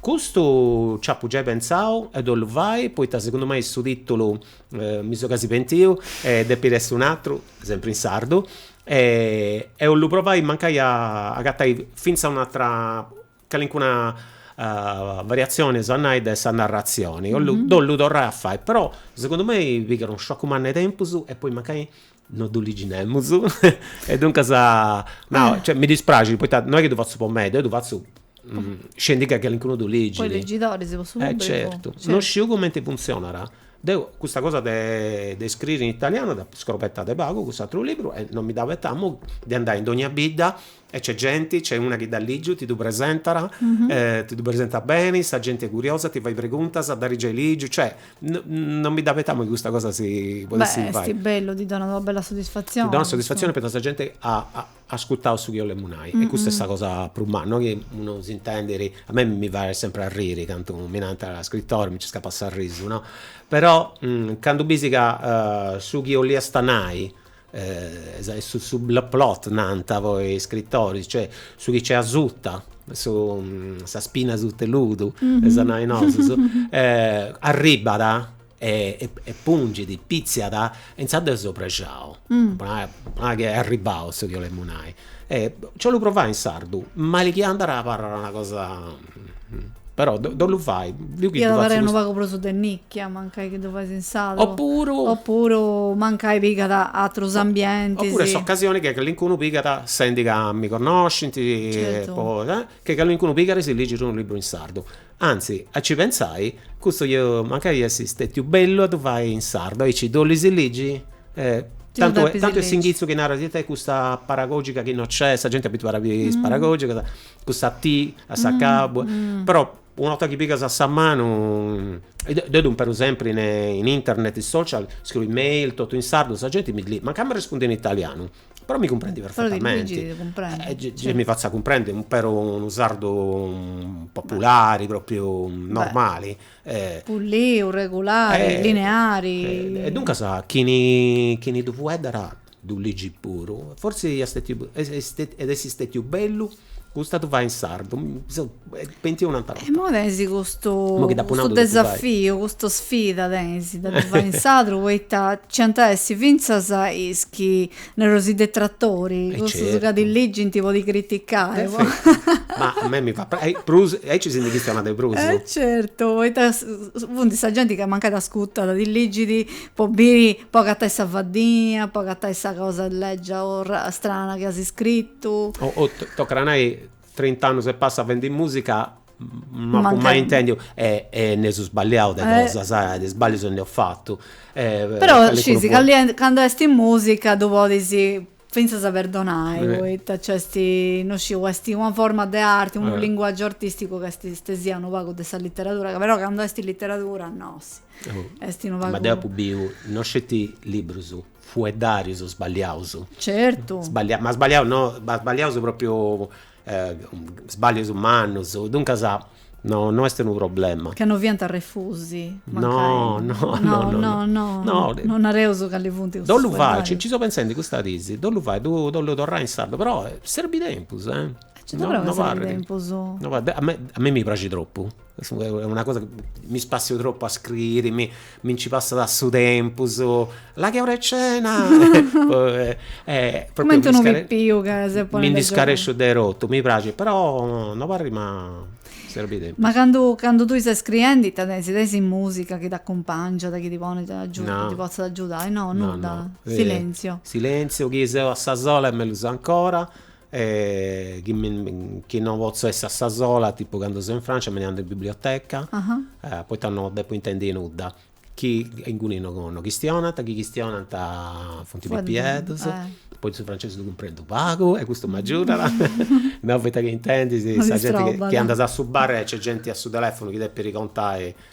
Custu nci apu giai pentzau e ddu 'ollu fai poita segundu mei su titulu mi seu casi pentiu e depit essi un'atru, sempri in sardu, e 'ollu provai mancai a agatai finzas un'atra Calincuna variatzioni so a nau de sa narratzioni, ddu 'ollu torrai a fai, però segundu mei pigat unu sciacu mannu 'e tempus e poi mancai no ddu ligi nemus e duncas nau, cioè mi dispraxit poita no est chi ddu fatzu po mei, deu ddu fatzu scendi ca calincunu ddu ligit. Po is legidoris, po su pubblicu. Eh certu, no sciu cumenti funtzionat. Deu custa cosa de de scriri in italianu dd'apu scrobetada pagu cun s'aturu liburu e non mi dd'abetamu de andai in dogna bidda E c'è genti, c'è una chi dd'at ligiu, ti ddu presentara, ti ddu presenta beni, sa genti è curiosa, ti fait preguntas, dd'ari giai ligiu, cioè non mi dd'abetamu chi custa cosa si podessi fai. Esti bellu, ti donat una bella soddisfatzioni. Ti donat soddisfatzioni poita sa genti at ascurtau su chi 'olemu nai e custa est sa cosa prus manna, no chi unu s'intendiri, a mei mi fait sempri arriri candu mi narant scrittori, mi nci scapat s'arrisu, no, però candu bisi ca su chi 'olliasta nai Est su plot nant poi is scritoris, cioè su chi nci asuta, su sa spina asuta 'e ludu eus a nai nosus, arribbat e pungit, pitziat e intzandus seu prexau, po nai po nai chi est arribau su chi 'olemu nai. Nci 'ollu provai in sardu, mali chi andat abarrat una cosa Però ddu, ddu 'ollu fai. Io che Io devo fare unu pagu prusu de nicchia, mancai che devo fare in sardu. Oppure. Oppure mancai pigata altros ambienti. Oppure s'occasione che calincunu pigata, sendi ca mi connoscinti. Certo. Po, eh, che calincunu pigada e si ligit unu libru in sardu. Anzi, a ci pensai, custu iat mancai essi stetiu bellu a du fai in sardu, aici du olli si ligi? Eh. Tantu, tantu è s'inghitzu chi naras, ita è custa paragogica chi no c'è, sa genti abituada a biri is paragogicas. custa T a s'acabu però una 'orta chi pigas a sa manu deu dd'imperu sempri in internet in social scriu email totu in sardu sa genti mi li mancai mi arrespundit in italianu però mi cumprendi perfetamenti e gei mi fatzu a cumprendi imperu unu sardu populari propriu normali e puliu regulari lineari e duncas chini chini ddu fueddara ddu ligi puru, forsi iat stetiu iat essi stetiu bellu custa ddu fai in sardu, mi seu pentiu un'atra 'orta. Imoi tenis custu desafiu, custa sfida tenis de ddu fai in sardu poita nci ant a essi fintzas is chi, nareus, is detratori, cussus ca ti ligint po ti criticai. Ma a mei mi fait prexeri, aici si ndi chistionat de prus. Certu, poita funt sa genti ca mancai t'ascurtat, ti ligit po biri, po agatai sa faddinia, po agatai sa cosa leggia o strana chi as iscritu. O tocat a nai trint'annus e passa fendi musica no apu mai intendiu e nd'eus sballiau de cosas e de sballius nd'eus fatu. Però scisi, candu esti in musica ddu podis fintzas a perdonai poita nc'est, no sciu, est una forma de arti, unu linguagiu artisticu ca istesiat unu pagu de sa literadura, ca però candu est literadura no, est unu pagu. Ma deu apu biu, no sceti librus, fueddarius sballiaus. Certu. Sballiaus, ma sballiaus no, ma sballiaus propriu sbàllius mannus, duncas no no est unu problema. Ca no fiant refusi, mancai. No no no no no. No nareus cali funt cussus fueddarius. Dd'ollu fai, nci nci seu pentzendi custas dis, dd'ollu fai, dd'ollu torrai in sardu, però serbit tempus, eh. Nci torraus, serbit tempus. No parit, a mei mi praxit tropu Est una cosa, mi spassiu tropu a scriri, mi mi nci passat su tempus, la chi est ora 'e cena cumenti unu pipiu ca ses po mi ndi scaresciu de totu, mi praxit, però no parit ma serbit tempus. Ma candu candu tui ses scriendi ita tenis, tenis musica chi t'accumpangiat, chi ti ponit agiudu, ti potzat agiudai, no nudda, silenziu. Silenziu, chi seu a sa sola est mellus ancora, e chi mi chi no potzu essi a sa sola tipu candu seu in Francia mi nd'andu in biblioteca poita no depu intendi nudda chi inguni no chistionant chi chistionant funt pipieddus poi su francesi ddu cumprendu pagu e custu m'agiudat no poita chi intendis sa genti chi andas a su bar e nc'est genti a su telefonu chi depit contai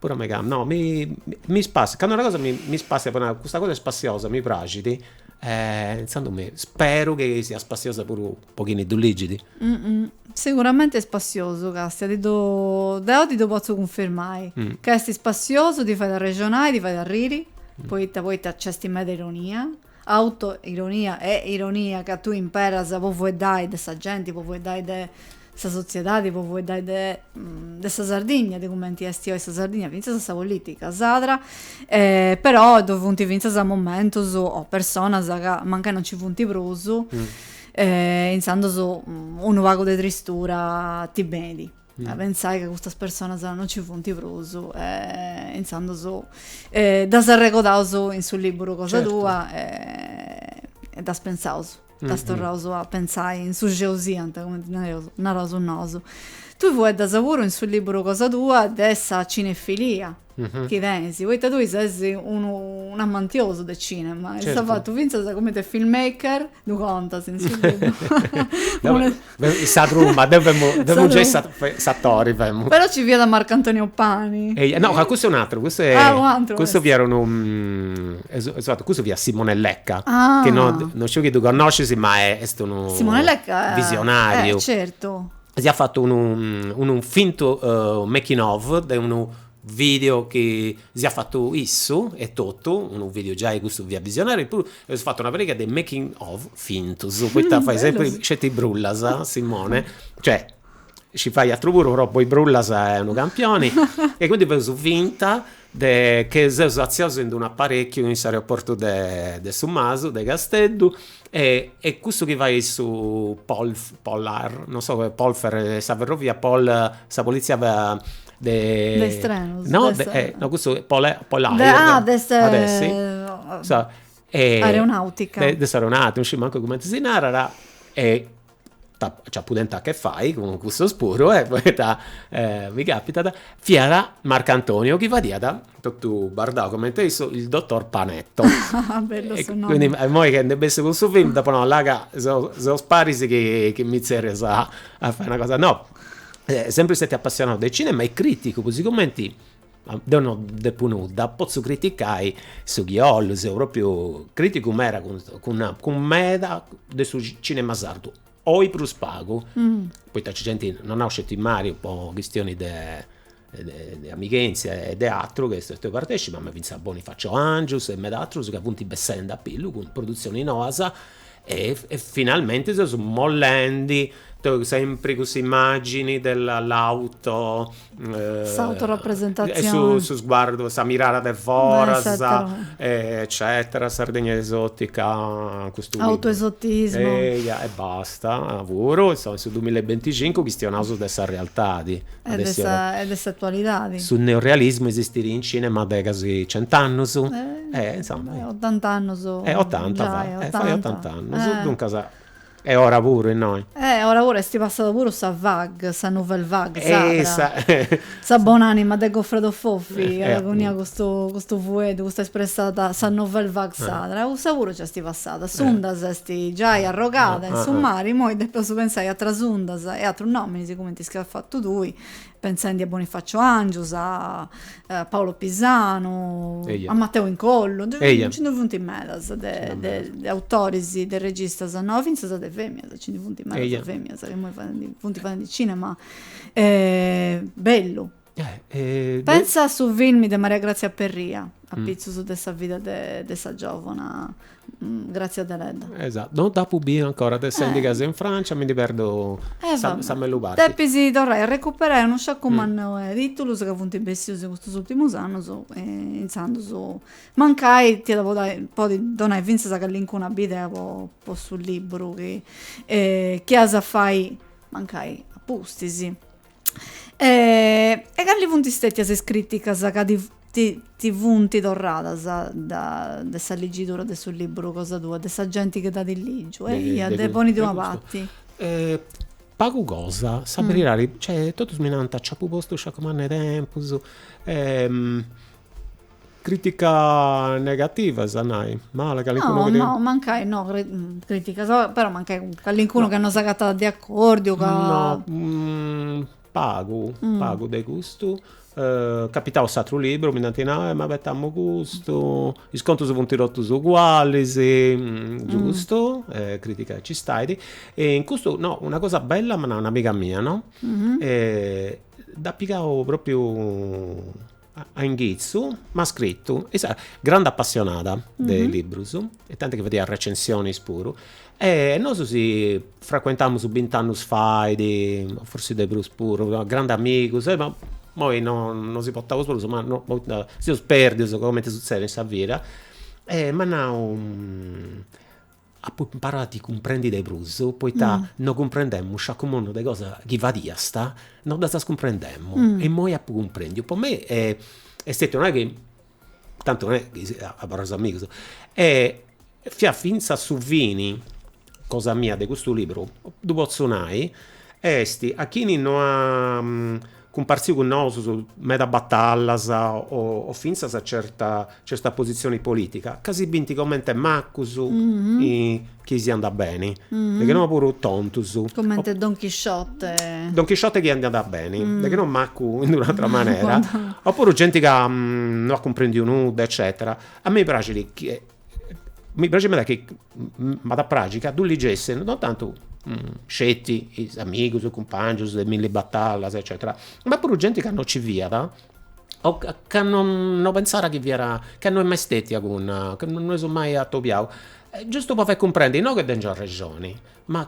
Puru a meigama no mi mi spassiat candu una cosa mi spassiat po nai custa cosa est spassiosa mi praxit e intzandus mi speru chi siat spassiosa puru po chini ddu ligit. Siguramenti est spassiosu Castia ti ddu deu ti ddu potzu cunfirmai ca est spassiosu ti fait arrexonai ti fait arriri poita poita nc'esti meda ironia Auto ironia e ironia ca tui imperas po fueddai de sa genti, po fueddai de sa sotziedadi, po fueddai de de sa Sardigna, de cumenti esti oi sa Sardigna, finzas a sa politica sadra, però ddoi funti finzas momentus o personas ca mancai non ci funti prusu, inzandus unu pagu de tristura ti benit. a pensai ca custas personas no ci funt prus e intzandus ddas arregodaus in su libburu cosa tua e ddas pentzaus, ddas torraus a pentzai in su xeu siant, cumenti nareus, naraus nosu. Tui fueddas puru in su libburu cosa tua de sa cinefilia. Chi tenis, poita tui ses unu unu amantiosu de cinema e as fatu fintzas cumenti a filmmaker ddu contas in su libru. In sa truma, deu femu, deu femu giai s'atori femu. Però ci fiat Marcantonio Pani. Eia, no ca cussu est un'ateru, cussu est. Ah un'ateru. Cussu fiat unu cussu fiat Simone Lecca. Ah. Chi no sciu chi ddu connoscis ma est unu. Simone Lecca. Visionariu. Eh certu. si at fatu unu unu fintu making of de unu video chi si at fatu issu etotu, unu video giai custu fiat visionariu, e puru eus fatu una pariga de making of fintus poita fait sempri sceti brullas Simone, cioè scit fai atru puru però po is brullas est unu campioni e quindi fadeus finta de che seus artziaus ind unu aparèchiu in s'aeroportu de de su Masu de Casteddu e e cussu chi fait su polf polar no sa polfer sa ferrovia po sa politzia de de is trenos no no cussu pol polair de ah de s'at a essi sa aeronàutica de s'aeronàutica non sciu mancu cumenti si narat e nci apu tentu ita fai cun cussus puru e poita mi capitat, fiat Marcantonio chi fadiat totu bardau cumenti a issu il dottor Panetto. Bellu su nomi. Quindi immoi chi ndi bessis cun su film dd'apu nau, là ca seus paris chi mi tzerrias a fai una cosa. No, sempri stetiu apassionau de cinema e criticu puru, sigumenti Deu no depu nudda, potzu criticai su chi 'ollu, seu propriu criticu meda cun meda de su cinema sardu, oi prus pagu poita nc'est genti, no nau sceti Mariu po chistionis de de amighentzia e de atru chi est stetiu partecipu, ma finzas Bonifacio Angius e meda atrus ca funt bessendi a pillu cun produtzionis noas E finalmente seus mollendi sempri cussa immagini della l'auto s'autorapresentazioni e su sguardu sa mirada de foras eccetera Sardegna esotica custu autoesotismo eia e basta puru in su dumilla e binticincu chistionaus de sa realtadi E de s'atualidadi. Su neorealismu esistit in cinema de casi cent'annus. Eh insoma. Otant'annus. Eh otanta va. Eh fait otant'annus. Duncas est ora puru innoi. Eh ora puru, est passada puru sa vague, sa nouvelle vague sarda. Sa bon'anima de Goffredo Fofi at coniau custu custu fueddu, custa espressada, sa nouvelle vague sarda. Cussa puru nc'est passada. S'unda s'est giai arrogada in su mari, imoi depeus pensai a atras undas e atrus nominis cumenti Ch'as fatu tui, pentzendi a Bonifacio Angius, a Paolo Pisanu, a Matteo Incollu, nci ndi funt medas de autoris, de registas, no, fintzas de feminas, nci ndi funt medas de feminas chi imoi funt fadendi cinema, bellu Pensa a su film de Maria Grazia Perria, apitzus de sa vida de sa giòvana Grazia Deledda. Esatu, no dd'apu biu ancora, sendi ca seu in Francia mi ndi perdu sa mellus parti. Depis torrai a recuperai unu sciacu mannu 'e tìtulus ca funt bessius in custus ùrtimus annus, intzandus mancai t'ia podi donai fintzas callincuna bidea po su lìburu chi ias a fai mancai a pustis. e cali funt stètias is crìticas ca ti funt torradas de sa ligidura de su liburu cosa tua, de sa genti chi dd'at lìgiu e immoi poni·ddu a una parti? Pagu cosa, sa beridadi, cioè totus mi nant, nci apu postu sciacu mannu 'e tempus Crìtica negativas, est a nai, mala, calincunu chi ti. No, no, mancai, no, crìtica, però mancai calincunu ca non s'agatat de acordiu, ca. No, pagu, pagu de custu, capitau s'atru liburu, mi nd'ant nau, eh m'abetamu custu, is contus funt totus ugualis, giustu, crìtica nci stait, e in custu, no, una cosa bella m'at nau un'amiga mia, no, dd'at pigau propriu a inghitzu m'at scritu issa grande apassionada de librus e tanti chi fadiat recensionis puru e nosu si fracuentamus bint'annus fait o forsis de prus puru grande amigus e imoi no si portaus prus ma no poita seus perdius comente sutzedit in sa vida e m'at nau Apu imparau a ti cumprendi de prus, poita no cumprendemu sciacu mannu de cosas chi fadiast, no ddas cumprendemu. E imoi apu cumprendiu. Po mei est stetiu, no est chi, tantu no est chi abarraus amigus, fiat fintzas su fini, cosa mia, de custu liburu, ddu potzu nai, est a chini no at cumpartziu cun nosus meda batallas o o fintzas certa certa positzioni politica ca si bint comente macus chi si andat beni de che no puru tontus comente don chisciote don chisciote chi andiat beni de che no macu in d'una atra manera o puru genti ca no at cumprendiu nudda eccetera a mei praxit chi mi praxit, m'iat, chi m'at a praxi ca ddu ligessi non tantu sceti is amigus, is cumpangius de milli batallas eccetera, ma puru genti ca non nci fiat o ca non pensat chi fiat, ca non est mai stetia cun, ca non si seus mai atobiaus, giustu po fai cumprendi, no ca tengiu arrexoni, ma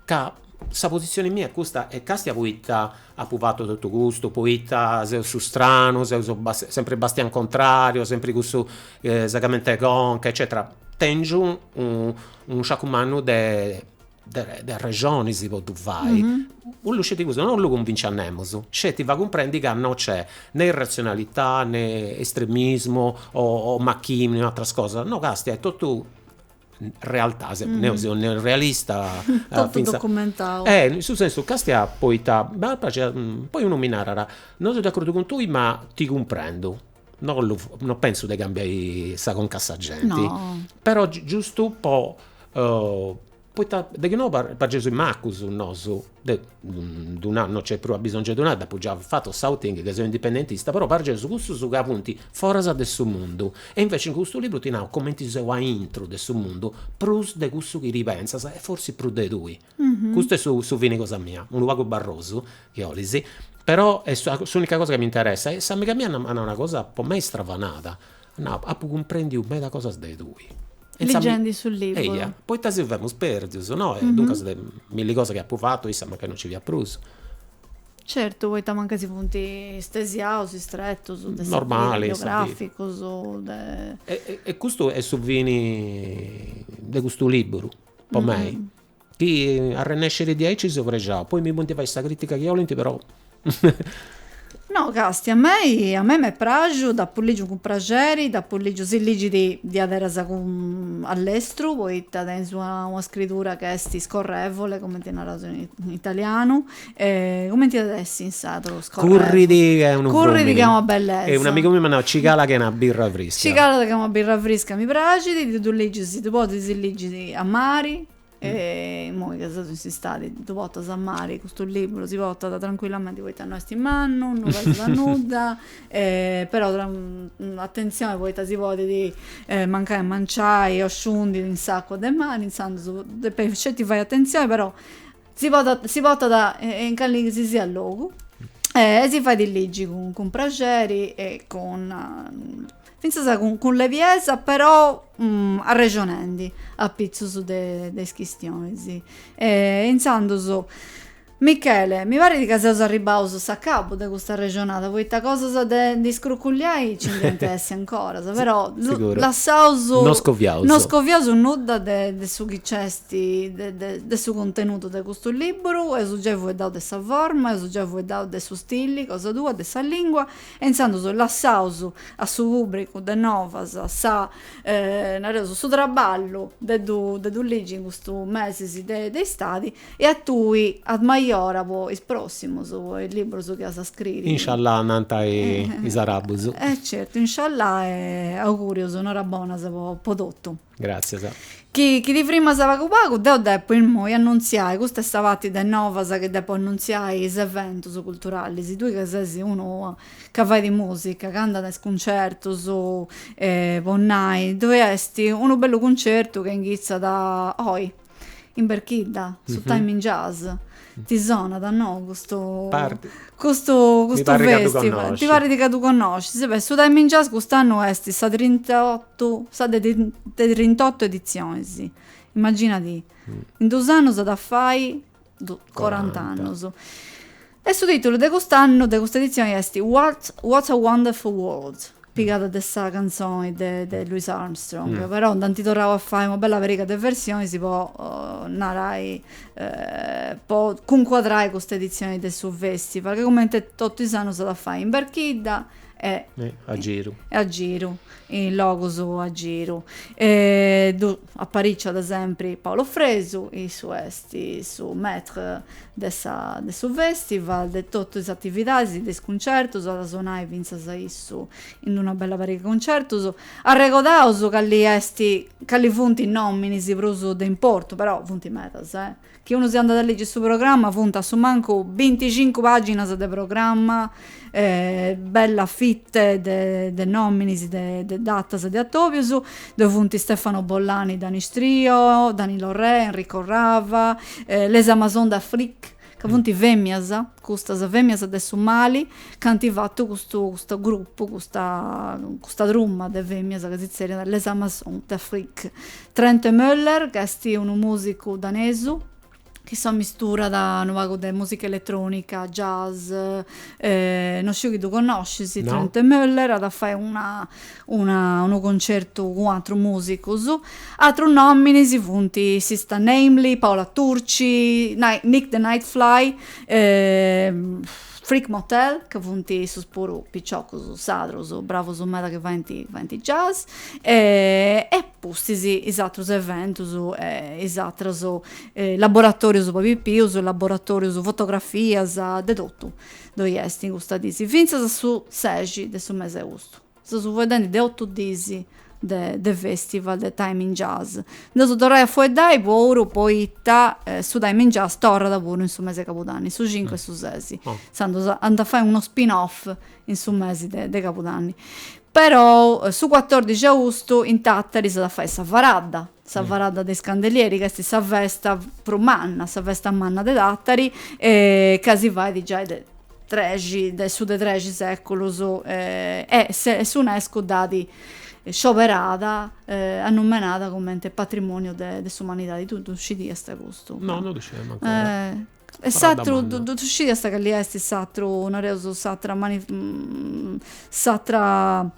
Ca sa positzioni mia est custa e càstia poita apu fatu totu custu, poita seu su stranu, seu su sempri bastianu contrariu, sempri cussu segamenti 'e conca eccetera, tèngiu unu sciacu mannu de de arrexoni si poddu fai, 'ollu sceti custu, no 'ollu cunvinci a nemus, sceti fai cumprendi ca no nc'est ne irratzionalità, ne estremismu o macchini o ateras cosas, no càstia est totu realtà, sempri deu seu neorealista, in su sensu càstia poita m'at a praxiri, poi unu mi narat, no seu d'acordu cun tui ma ti cumprendu, no 'ollu no pentzu de cambiai sa conca a sa genti, però giustu po poita de chi no pareus is macus nosu De ddu nai, no nc'est prus abisongiu 'e ddu nai, dd'apu giai fatu s'outing chi seu indipendentista, però pareus cussus ca funt foras de su mundu. E inveci in custu liburu ti nau cumenti seu aintru de su mundu, prus de cussu chi ti pentzas e forzis prus de tui. Custu est su su fini cosa mia, unu pagu barrosu, chi 'olis, però est s'unica cosa chi m'interessat. E s'amiga mia m'at nau una cosa po mei stravanada, Nau, apu cumprendiu meda cosas de tui. Ligendi su liburu. Eia, poita si femus perdius, no? E duncas de milli cosas chi apu fatu, issa mancai no nci fiat prus. Certu, poita mancai si funt stesiaus is tretus de sa vida, biograficus, de. E custu est su fini de custu liburu, po mei. Chi arrennescit diaici seu prexau. Poi mi podint fai sa crìtica chi 'olint però. No càstia, a mei a mei m'est praxu, dd'apu lìgiu cun praxeri, dd'apu lìgiu, si ligit diaderasa cun a lestru, poita tenis una una scridura ch'est scorrevole, cumenti naraus in italianu E cumenti at essi in sardu scorrevole? Currit ca est unu frumini. Currit ca est una bellesa. E un'amigu miu m'at nau ci calat ca est una birra frisca. Ci calat ca est una birra frisca mi praxit, ti ddu ligis, si ddu podis si ligit a mari, e imoi ca seus in s'istadi ddu portas a mari custu liburu, si portat trancuillamenti poita no est mannu, no pesat a nudda, però atentzioni poita si podit mancai manciai o sciundi in s'acua de mari, intzandus depeis sceti fai atentzioni, però Si portat, si portat in calisisiat logu e si fait ligi cun, cun praxeri e cun, fintzas cun, cun lebiesa però arrexonendi apitzus de, de is chistionis. E intzandus, Michele, mi parit ca seus arribbaus a s'acabu de custa arrexonada, poita cosas de ndi scrucullai nci nd'iat a essi ancora, però lassaus, no scoviaus, no scoviaus nudda de, de su chi nc'est de su cuntenudu de custu lìburu, eus giai fueddau de sa forma, eus giai fueddau de su stili cosa tua, de sa lìngua, e intzandus lassaus a su pùbricu de Novas sa, nareus, su traballu de ddu ligi in custus mesis de istadi, e a tui ad maiora po is pròssimus, po is lìburus chi as a scriri. Insciallà, nant is arabus. E certu, insciallà e augùrius, norabonas po totu. Gràtzias. Chi ti frimas pagu pagu deu depo immoi annuntziai, custa est sa parti de novas chi depo annuntziai, is eventus culturalis, tui ca ses unu ca fait mùsica, ca andat a is cuncertus, po nai, ddoi est unu bellu cuncertu ca inghitzat oi in berchidda su time in jazz ti sonat no custu custu custu festival ti parit ca ddu connoscis e beh su time in jazz cust'annu est sa trint'ottu sa de trint'ottu editzionis immaginadi in dus annus at a fai corant'annus. E su tìtulu de cust'annu, de custa editzioni, est What, What a Wonderful World, pigada de sa cantzoni de de Louis Armstrong, però nd'ant torrau a fai una bella pariga de versionis po narai po cuncuadrai custa editzioni de su festival, chi comente totu is annus s'at a fai in Berchidda e a giru e a giru in logus a giru e ddu apariciat sempri Paolo Fresu issu est su maitre de sa de su festival de totu is atividadis de is cuncertus at a sonai fintzas issu in una bella pariga de cuncertus arregodaus cali est cali funt is nominis prus de importu però funt medas Chi unu si andat a ligi su programma funt a su mancu binticincu paginas de programma bella fitte de nominis de datas e de atobius ddoi funt Stefano Bollani Danish Trio Danilo Rea Enrico Rava Les Amazones d'Afrique ca funt femias custas femias de su Mali ca ant fatu custu custu gruppu custa custa truma de femias ca si zerriant Les Amazones d'Afrique Trentemøller ch'est unu mùsicu danesu chi s'ammisturat unu pagu de mùsica eletrònica, jazz, no sciu chi ddu connoscis Trentemøller, at a fai una una unu concertu cun atrus mùsicus, atrus nòminis funt Sista Namely, Paola Turci, Nick the Nightfly, Freak Motel ca funt issus puru piciocus sadrus bravus meda chi faint faint jazz e pustis is atrus eventus e is atras laboratorius po pipius, laboratorius fotografias, de totu ddoi est in custas diis, fintzas a su sexi de su mesi 'e austu. Seus fueddendi de otu diis de de festival de Time in Jazz. Nd'eus torrai a fueddai puru poita su Time in Jazz torrat puru in su mesi 'e cabudanni, su cincu e su sesi, intzandus ant fai unu spin off in su mesi de de cabudanni perou su cuatòrdixi austu in Tàtari s'at a fai sa faradda sa faradda de is candelieri ca esti sa festa prus manna sa festa manna de Tàtari e ca si fait giai de trexi de su de trexi seculus e s'Unescu dd'at scioberada annumenada cumenti patrimoniu de de s'umanidadi tui ddu scidiasta custu? No no ddu scidia mancu E s'atru, ddu scidias cali est s'atru, nareus s'atra s'atra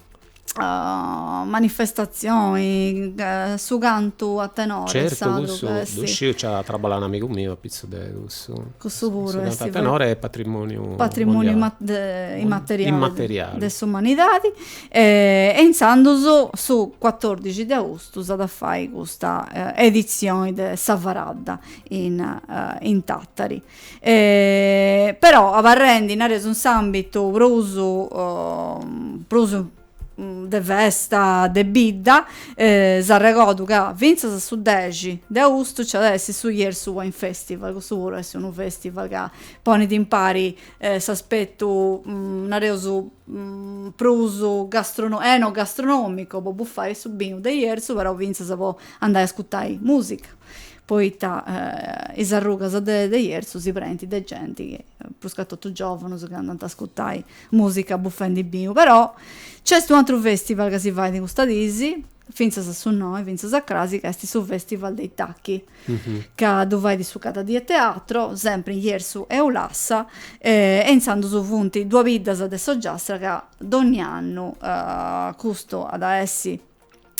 manifestatzioni, su cantu a tenore. Certu cussu ddu sciu, nci at traballau un'amigu miu apitzus de cussu. Cussu puru est. Su cantu a tenore est patrimoniu mondiali. Patrimoniu immateriali. Immateriali. De s'umanidadi e intzandus su cuatordixi de austu s'at a fai custa editzioni de sa Faradda in in Tàtari però abarrendi nareus in s'àmbitu prus prus de festa de bidda s'arregodu ca fintzas a su dexi de austu nci at a essi su Jerzu Wine Festival cussu puru est unu festival ca ponit impari s'aspettu nareus prus gastronò enogastronomicu po buffai su binu de Jerzu però fintzas po andai a ascutai musica poita is arrugas de de Jerzu si prenint de genti chi, pruscatotu giòvunus chi andant a ascutai mùsica bufendi binu. Però nc'est u'atru fèstival ca si fait in custas dis, fintzas a su noe, fintzas a crasi, ca est su fèstival dei Tacchi, ca ddu fait su Cada Die Teatro, sempri in Jerzu e Ulassa, e intzandus funt duas biddas de s'Ogliastra ca donni annu custu at a essi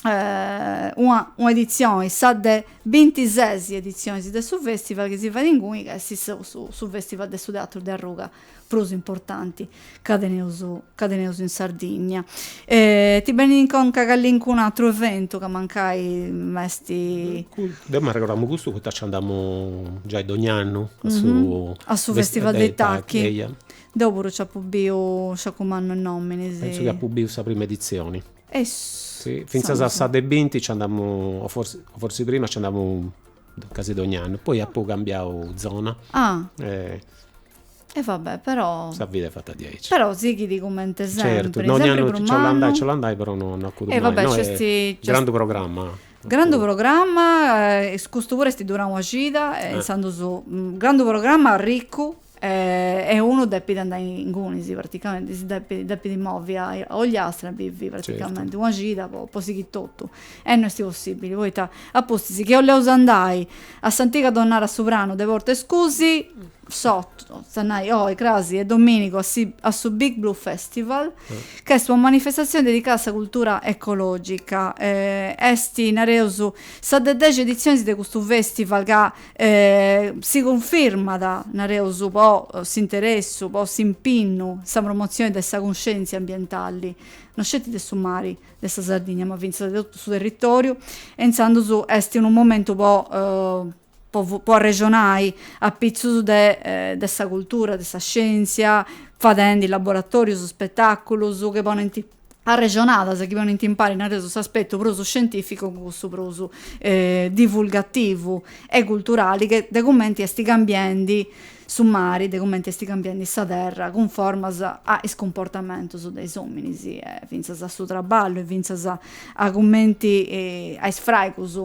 una un'editzioni, sa de bintisesi editzionis de su fèstival chi si fait inguni, ca est su fèstival de su teatru de arruga prus importanti ca teneus ca teneus in Sardigna. ti benit in conca calincunu atru eventu ca mancai m'est. Deu m'arregodamu custu poita nci andamu giai donni'annu a su. A su fèstival dei Tacchi. Eia. Deu puru nci apu biu, sciacu mannu 'e nominis. Pentzu chi apu biu sa primu editzioni. Fintzas a sa de binti nci andamu, o forsi prima nci andamu, casi dogni annu, poi apu cambiau zona e. E va bè, però. Sa vida est fata diaici. Però sighit cumenti sempri. Certu, dogni annu nci 'olant andai, nci 'olant andai, però no acuddu mai. No est grandu programma. Grandu programma, custu puru est durau una cida, intzandus grandu programma arricu. E unu depit andai ingunis praticamenti, si depit depit movi a Ogliastra, bivi praticamenti una cida po po sighiri totu. E no esti possibili, poita a pustis chi 'olleus andai a s'antiga tonnara Su Pranu de Portescusi, s'otu, a nai, oi, crasi e dominigu s'at a fai su Big Blue Festival, ch'est una manifestatzioni dedicada a sa cultura ecologica. Esti, nareus, sa de dexi edizionis de custu festival ca E si cunfirmat, nareus, po s'interessu, po s'impinnu, sa promotzioni de sa cunscèntzia ambientali, no sceti de su mari de sa Sardigna, ma fintzas de totu su territòriu, e intzandus est unu momentu po po arrexonai apitzus de de sa cultura, de sa scièntzia, fadendi laboratòrius, spetàculus, chi ponent arrexonadas chi ponint impari, nareus, s'aspetu prus scientìficu cun cussu prus divulgativu e culturali de cumenti est cambiendi su mari, de cumenti est cambiendi sa terra cunformas a is cumportamentus de is òminis e fintzas a su traballu e fintzas a cumenti a is fraigus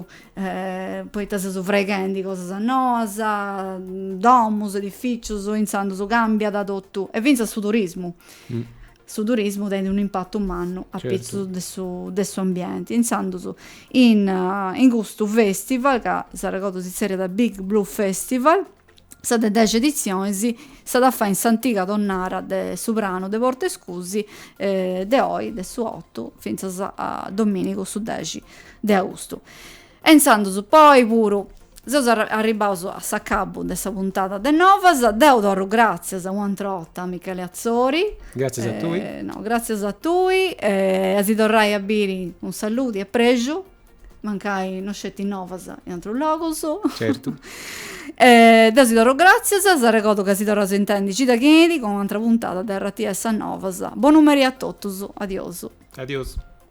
poita seus fraighendi cosas noas, domus, edifìcius, intzandus càmbiat totu e fintzas su turismu Su turismu tenit un'impatu mannu a pitzus de su de s'ambienti, intzandus in in custu festival ca s'arregodu si tzerriat Big Blue Festival, sa de dexi editzionis s'at a fai in s'antiga tonnara de Su Pranu de Portescusi de oi, de su otu fintzas a domìnigu su dexi de austu. E intzandus poi puru seus arribaus a s'acabu de sa puntada de Novas. Deu torru gràtzias u' atr'u' 'orta a Michele Atzori. Gràtzias a tui. No, gràtzias a tui e a si torrai a biri cun saludi e prexu, mancai no sceti Novas in atrus logus. Certu. Deu si torru gràtzias, s'arregodu ca si torraus a intendi cida chi benit cun u' atra puntada de RTS Novas. Bonu meri a totus. Adiosu. Adiosu.